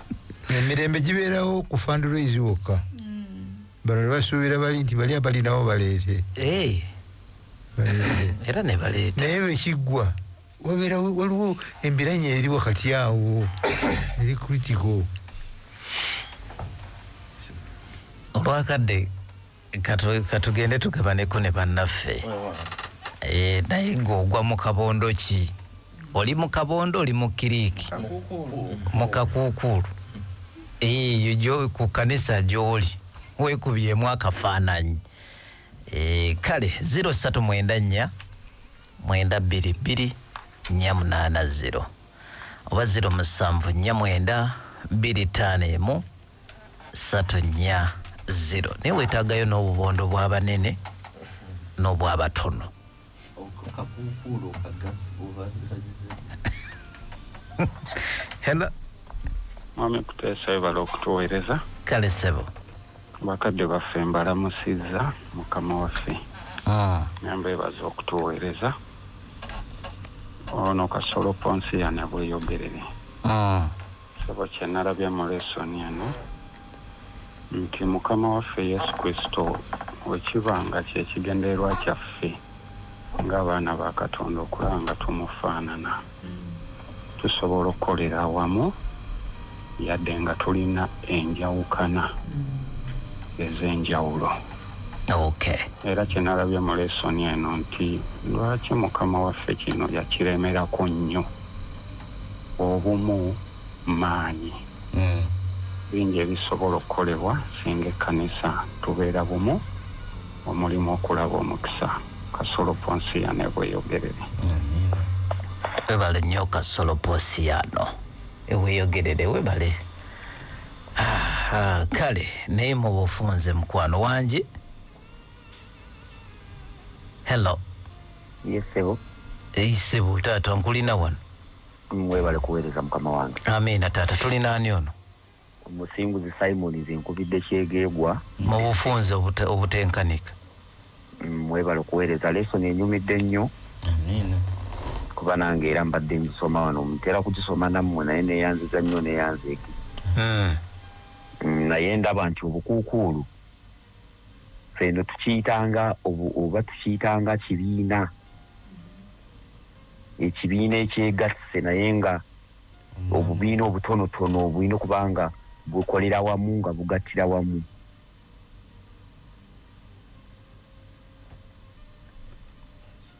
emirembe gibeerawo ku fundraise wokka mm. bano nebasuubira bali nti bali abalinawo baleete eh. era nebaleeta naye bwekiggwa wabeera waliwo embiranye eri wakati awo eri critical olwakadde katugende tugabaneko ne bannaffe eh, naye ng'ogwa mu kabondo ki oli mu kabondo oli mu kiriiki mu kakuukuulu eyo eh, ku kanisa gy'oli wekubyemu akafaananyi eh, kale 039 mwenda bbiri bbiri nnya munaana 0 oba 0 musanvu nnya mwenda bbiri ttaano emu satu nya zero naye wetagayo n'obubondo bw'abanene n'obw'abatono hello mwami kuteesa webala okutuweereza kale sebo bakadde baffe mbalamusizza mukama waffe ah. nyamba ebaza okutuweereza ono kasolo ponsi yanabweyogerere ah. Ssebo kyenalabye mu lesson eno nti mukama waffe yesu kristo wekiba nga kyekigendererwa kyaffe nga abaana ba katonda okulaba nga tumufaanana tusobola okukolera awamu yadde nga tulina enjawukana ezenjawulo. Era kyenalabye mu lesson eno nti lwaki mukama waffe kino yakiremerako nnyo. obumu maanyi. Bingi ebisobola okukolebwa singa ekkanisa tubeera bumu omulimu okulaba omukisa. Kasolo Ponsiano e Bweyogerere. Webale nnyo Kasolo Ponsiano e Bweyogerere webale. Ahaa kale naye mubufunze mukwano wange. hello Yes, sebo. Hey, sebo taata nkulina wano mm, webale kuweereza mukama wange amiina taata tulina ani ono omusinguzi simon zinkubidde kyegeegwa mu bufunze obutenkanika mm, webale kuweereza lesson enyumidde nnyo amiina kuba nange era mbadde ngisoma wano mutera kugisoma nammwe naye neyanziza nnyo neyanzeeki hmm. mm, naye ndaba nti obukuukuulu ffe eno tukiyitanga oba tukiyitanga kibiina, ekibiina ekyegasse naye nga obubiina obutonotono obulina okuba nga bukolera wamu nga bugattira wamu.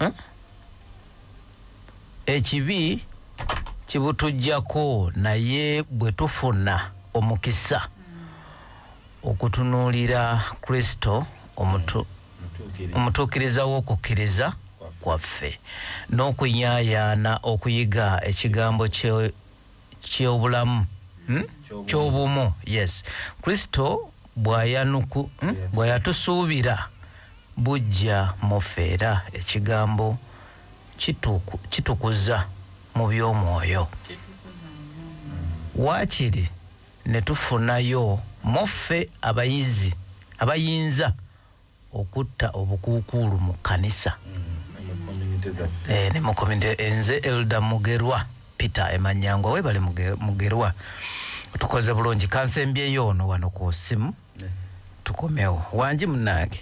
Eh? ekibi kibutujjako naye bwe tufuna omukisa okutunuulira kristo omutuukiriza w'okukkiriza kwaffe n'okunyaayaana okuyiga ekigambo kye ky'obulamu, hmm? ky'obumu, yes, Kristo bw'ayanuku, hmm? bwe yatusuubira bujja mu ffe era ekigambo kitukuza mu by'omwoyo. Waakiri ne tufunayo mu ffe abayizi abayinza okutta obukuukuulu mu kkanisa ne mu community eh, nze Elder Mugerwa Peter Emanyangwa webale Mugerwa tukoze bulungi kansembyeyo ono wano ku simu tukomewo wangi munange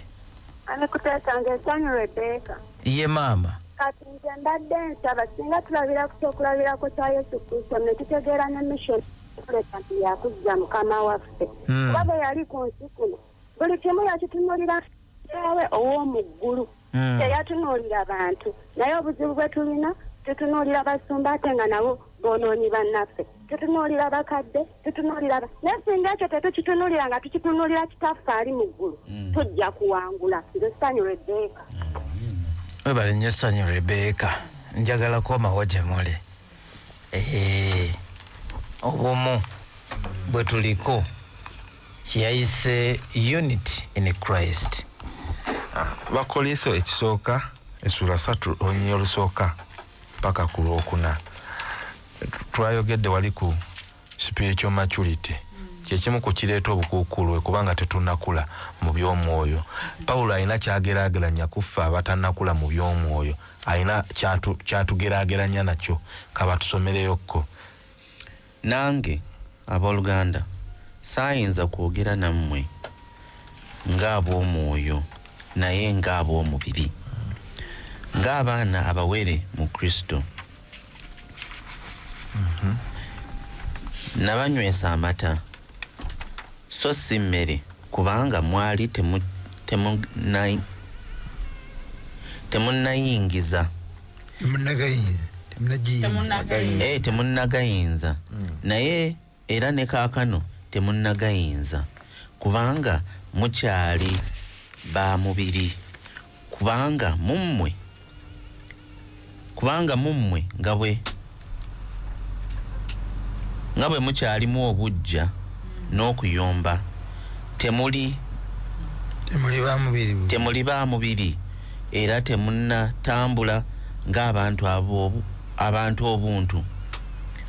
ye maama kati nze mbadde nsaba singa tulabira ku kyokulabirako kya yesu kristo ne tutegeera ne mission tuleka nti yakuzza mukama waffe hmm. kuba bwe yali ku nsi kuno Buli kimu yakitunulira Kitaawe ow'omu ggulu. Hmm. Teyatunuulira bantu. Naye obuzibu bwe tulina, tutunuulira basumba ate nga nabo boonoonyi bannaffe. Tutunuulira bakadde, tutunuulira ba... Naye singa ekyo tetukitunuulira nga tukitunuulira Kitaffe ali mu ggulu, hmm. tujja kuwangula. Nze Ssanyu Rebbeeka. Webale nnyo Ssanyu Rebbeeka. Njagala komawo gye muli. Ehe. Obumu bwe tuliko. kye yayise Unity in Christ. Abakoliso ekisooka essula satu olunyiriri olusooka paka ku lwokuna twayogedde wali ku spiritual maturity kyekimu ku kireeta obukuukuulwe kubanga tetunakula mu by'omwoyo pawulo alina kyageraageranya kuffe abatanakula mu by'omwoyo alina kyatugeraageranya nakyo kabatusomereyokko Nange aboluganda saayinza kwogera nammwe nga ab'omwoyo, naye nga ab'omubiri, nga abaana abawere mu Kristo. Nabanywesa amata. so si mmere kubanga mwali temunnayingiza temunnagayinza naye era ne kaakano temunnagayinza kubanga mukyali ba mubiri Kubanga mu mmwe, kubanga mu mmwe nga bwe, nga bwe mukyalimu obuggya n'okuyomba, temuli, Temuli ba mubiri gumu. temuli ba mubiri, era temunnatambula ng'abantu ab'obu, abantu obuntu.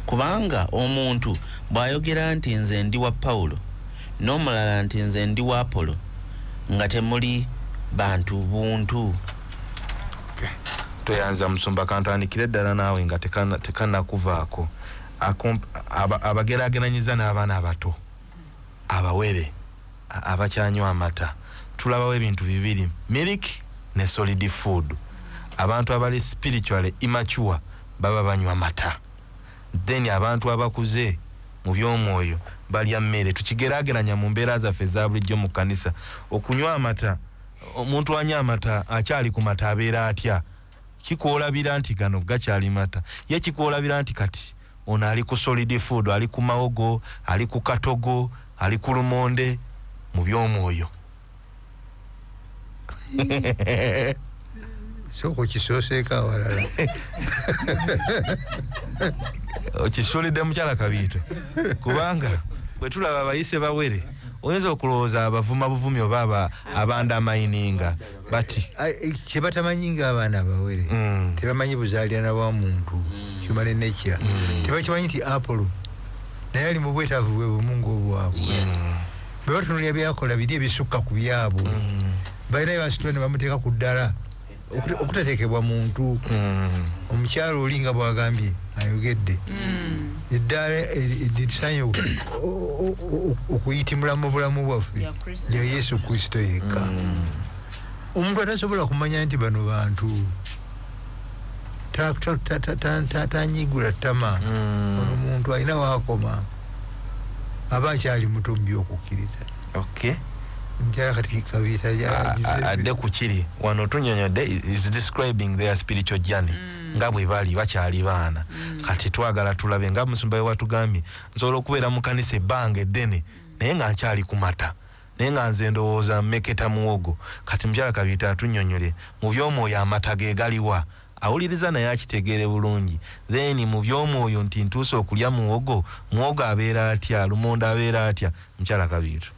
Kubanga omuntu bw'ayogera nti, Nze ndi wa Pawulo, nomulala nti nze ndi wa Apollo nga temuli bantu buntu. Tweyanza musumba kantandikire ddala naawe nga tekanakuvaako abagerageranyiza n'abaana abato abawere abakyanywa amata tulabawo ebintu bibiri milk ne solid food abantu abali spiritually immature baba banywa mata Then abantu abakuze mu by'omwoyo balya mmere. Tukigerageranya mu mbeera zaffe eza bulijjo mu kkanisa. Okunywa amata, omuntu anywa amata akyali ku mata abeera atya? Kikwolabira nti gano gakyali mata. Ye kikwolabira nti kati ono ali ku solid food, ali ku mawogo, ali ku katogo, ali ku lumonde mu by'omwoyo. sooka okisooseeko awalala okisuulidde mukyala kabiito kubanga bwe tulaba abayise bawere oyinza okulowooza abavuma buvumi oba abandamayininga bati eh, kyebatamanyi nga abaana abawere mm. tebamanyi buzaalirana bwa muntu mm. human nature mm. tebakimanyi nti apolo naye ali mu bwetaavu bwe bumu ngaobwabwe bwe batunuulira byakola biri ebisukka ku byabwe mm. balina byebasitula ne bamuteeka ku ddala okutateekebwa muntu mm. omukyalo oli nga bwagambye ayogedde mm. eddaala litusanye okuyitimula mu bulamu bwaffe lya yesu kristo yekka omuntu atasobola kumanya nti bano bantu tanyigula tama omuntu alina wakoma aba akyali muto mu by'okukkiriza okay njala kati kabita adde ku kiri wano tunyonyodde is describing their spiritual journey mm. nga bwe bali bakyali baana mm. kati twagala tulabe nga musumba we watugambye nsobola okubeera mu kanisa ebbanga eddene naye nga nkyali kumata Naye nga nze ndowooza mmeketa muwogo. Kati mukyala Kabiite atunyonyole mu by'omwoyo amata ge galiwa? Awuliriza naye akitegeere bulungi. Then mu by'omwoyo nti ntuuse okulya muwogo? Muwogo abeera atya? Lumonde abeera atya? Mukyala Kabiito.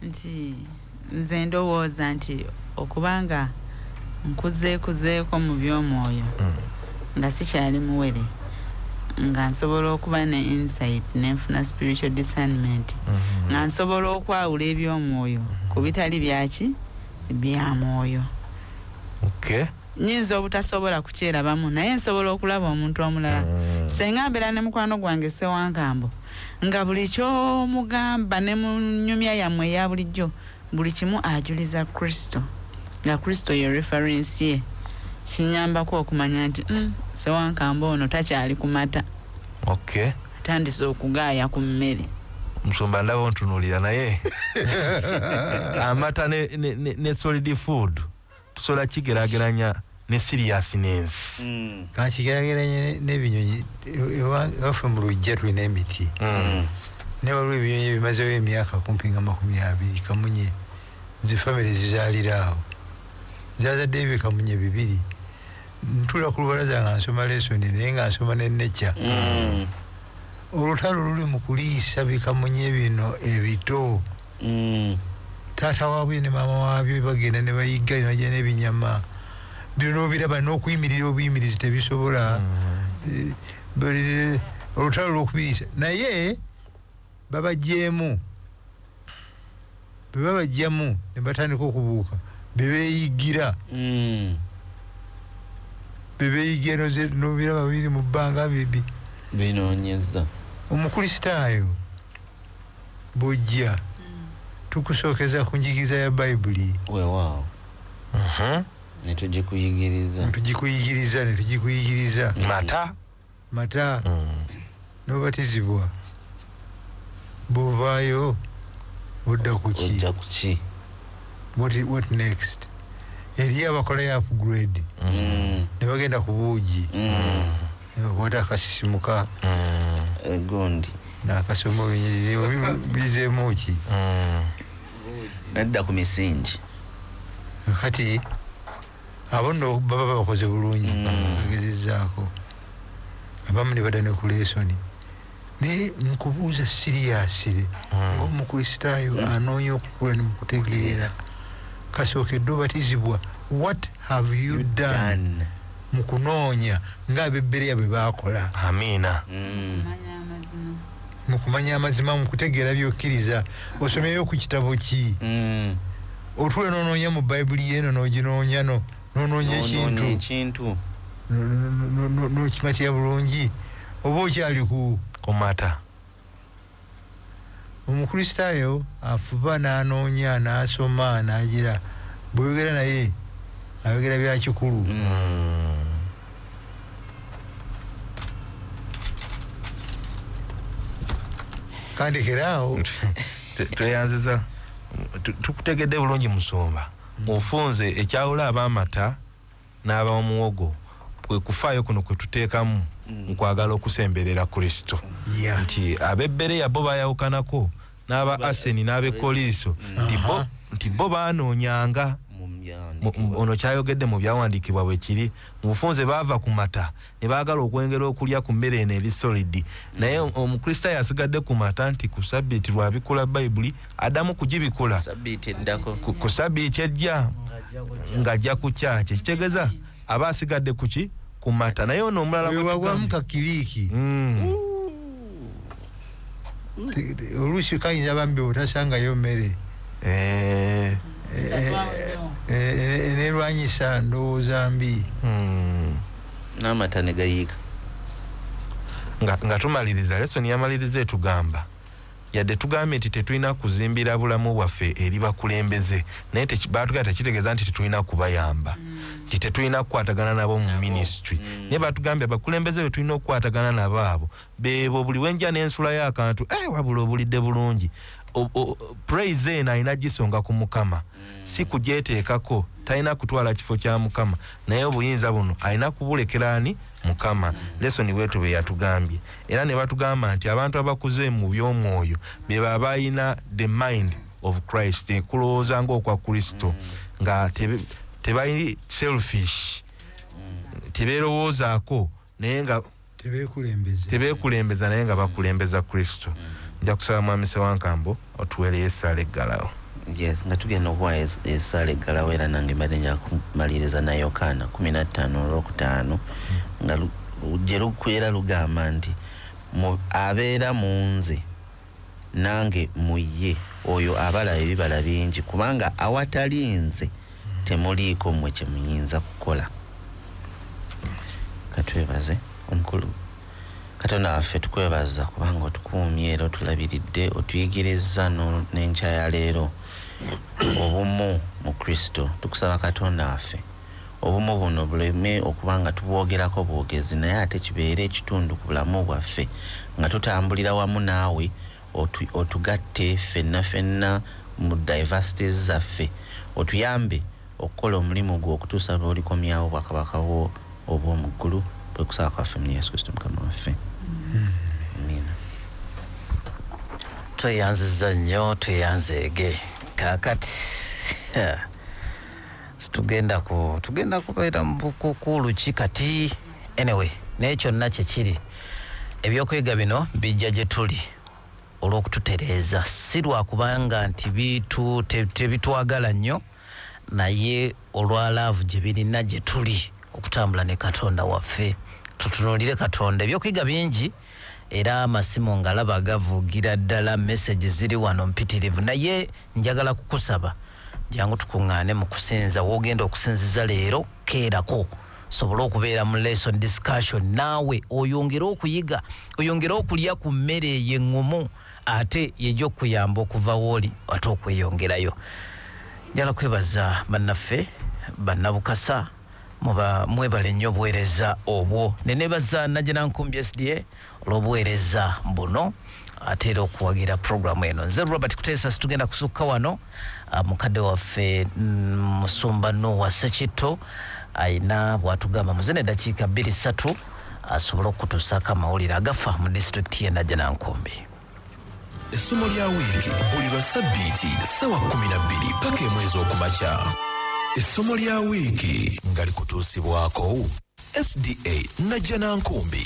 Nti nze ndowooza nti okuba nga. nkuzeekuzeeko mu by'omwoyo mm. nga sikyali muwere nga nsobola okuba ne insight ne nfuna spiritual discernment mm-hmm. nga nsobola okwawula eby'omwoyo mm-hmm. ku bitali byaki bya mwoyo nyinza obutasobola kukyerabamu naye nsobola okulaba omuntu omulala mm. senga mbeera ne mukwano gwange sewankambo nga buli kyomugamba ne mu nyumya yammwe eya bulijjo Buli kimu ajuliza Kristo, nga Kristo ye reference ye, kinyambako okumanya nti uhm Ssewankamba ono takyali ku mata. Okay. Atandise okugaaya ku mmere. Musumba ndaba ontunulira naye amata ne ne ne solid food. tusobola kigerageranya ne seriousness mm. kati kigerageranye nebinyonyi ewafe mu lujja tulina emiti mm. naye waliwo ebinyonyi ebimazewo emyaka kumpi nga makumi abiri kamunye nze famiry zizalira awo zazaddeyo bikamunye bibiri ntula ku lubalaza nga nsoma lesoni naye nga nsoma ne nature mm. olutalo luli mu kuliisa bikamunye bino ebito Taata wabyo ne maama wabyo bagenda ne bayigga ne bajja n'ebinyama. Bino n'obiraba n'okuyimirira obuyimirizi tebisobola. Eh, olutalo lw'okubiyisa naye babagyemu bwe babajjamu ne batandika okubuuka be beeyiggira mm. be beeyiggira n'obiraba biri mu bbanga binoonyeza omukulisitaayo bujja tukusookeza ku njigiriza ya Bayibuli. Weewaawo. Uh-huh. Ne tugikuyigiriza. Ne tugikuyigiriza, ne tugikuyigiriza. Mata. Mata. Mm. N'obatizibwa. Bw'ovaayo odda ku ki? Odda ku ki? What, what next? Eriyo abakola ya upgrade. Mm. Ne bagenda ku buugi. Mm. obwota akasisimuka egundi mm. nakasoma bizeemu ki mm. nadda ku misingi kati abo no baba bakoze bulungi mm. agezezaako abamu ne bada ne ku lesoni naye nkubuuza siriyasire ngaomukristaayo anoonya okukula ne mukutegeera kasookedde obatizibwa what have you done, done. mu kunoonya ng'Abebbereya bwe baakola. Amiina. Okumanya amazima. Mu kumanya amazima, mu kutegeera by'okkiriza. Osomyeyo ku kitabo ki? Otuula n'onoonya mu Bayibuli yo eno, n'oginoonya, no, n'onoonya ekintu, n'okimatira bulungi, oba okyali ku. Kumata. Omukristaayo afuba n'anoonya, n'asoma, n'agira bw'oyogera naye ayogera bya kikulu. Kandekera awo. Tweyanziza. Tukutegedde bulungi Musumba. Ofunze ekyawula ab'amata. n'aba muwogo, kwe kufaayo kuno kwe tuteekamu mu kwagala okusemberera Kristo, nti ab'e Bereya bo baayawukanako n'aba Aseni n'ab'e Koliiso, nti bo, nti bo baanoonyanga, mu, ono ky'ayogedde mu Byawandiikibwa bwe kiri, mu bufunze baava ku mata, ne baagala okwengera okulya ku mmere eno eri solidi. Naye mm. Omukristaayo asigadde ku mata nti ku sabbiiti lw'abikula Bayibuli addamu kugibikula ku sabbiiti ejja ng'ajja ku kyaki ekitegeza aba asigadde ku ki ku mata naye ono omulala wewawamukakiriiki mm. oluusi kayinza bambi otasangayo mmere eh. eh, eh, nerwanyisa ndowooza mbi hmm. n'amata ne gayiika nga tumaliriza lesoni yamaliriza etugamba yadde tugambye nti tetulina kuzimbira bulamu bwaffe eri bakulembeze naye batugamba tekitegeeza nti tetulina kubayamba mm. nti tetulina kukwatagana nabo mu ministry mm. naye batugambye abakulembeze betulina okukwatagana nabo abo Beebo buli wenja nensulayo akantu eeh wabula obulidde bulungi praise eno alina jisonga ku mukama si kujetekako talina kutwala kifo kya mukama naye obuyinza buno alina kubulekera ani mukama lesson bwetu beyatugambye era nebatugamba nti abantu abakuze mu byomwoyo beba abalina the mind of christ kulowooza nga okwa kristo nga tebali selfish teberowoozako naye nga tebekulembeza naye nga bakulembeza kristo mm. nja kusaba mwami sewankambo otuwereyo esaala eggalawo yes nga tugenda okuwa esaala eggalawo era nange mbadde njakumaliriza na yokaana kumi nattaano olwokutaano mm. nga gye lukwera lugamba nti abeera mu nze nange mu ye oyo abala ebibala bingi, kubanga awatali nze temuliiko mmwe kye muyinza kukola. Ka twebaze. Omukulu, Katonda waffe tukwebaza kubanga otukuumye era otulabiridde, otuyigirizza no, n'enkya ya leero, obumu mu Kristo. Tukusaba Katonda waffe. obumu buno buleme okuba nga tubwogerako bwogezi naye ate kibeere ekitundu ku bulamu bwaffe nga tutambulira wamu naawe otugatte ffenna ffenna mu diversities zaffe otuyambe okukola omulimu gwo okutuusa lw'olikomyawo obwakabaka bwo obw'omu ggulu kwe kusaba kwaffe mu yesu kristo mukama waffe amiina tweyanziza nnyo tweyanzeege kaakati Situgenda ku tugenda kubeera mu bukukuulu ki kati? Anyway, naye kyonna kye kiri, eby'okuyiga bino bijja gye tuli olw'okututereeza, si lwa kubanga nti bitu, te, tebitwagala nnyo, naye olwa laavu gye birina gye tuli okutambula ne Katonda waffe. Tutunuulire Katonda. Eby'okuyiga bingi. Era amasimu ngalaba gavugira ddala message ziri wano mpitirivu naye njagala kukusaba jangu tukungaane mu kusinza wogenda okusinziza leero keerako sobole okubeera mu lesson discussion naawe oyongere okuyiga oyongere okulya ku mmere eyo eŋŋumu ate yeja okukuyamba okuva wooli ate okweyongerayo njala kwebaza bannaffe bannabukasa Muba mwebale nnyo obuwereza obwo. Nenebaza Najjanankumbi SDA olwobuwereza buno ate era okuwagira program eno. Nze Robert Kuteesa situgenda kusukka wano. Ah, mukadde waffe mm, Musumba Nuwa Sekitto ayina bwatugamba muze ne dakiika bbiri satu asobole okutusaako amawulire agafa mu disitulikiti ye Najjanankumbi. Essomo lya wiiki buli lwa ssabbiiti ssaawa kkumi na bbiri ppaka emu ez'okumakya. Essomo lya wiiki nga likutuusibwako SDA Najjanankumbi.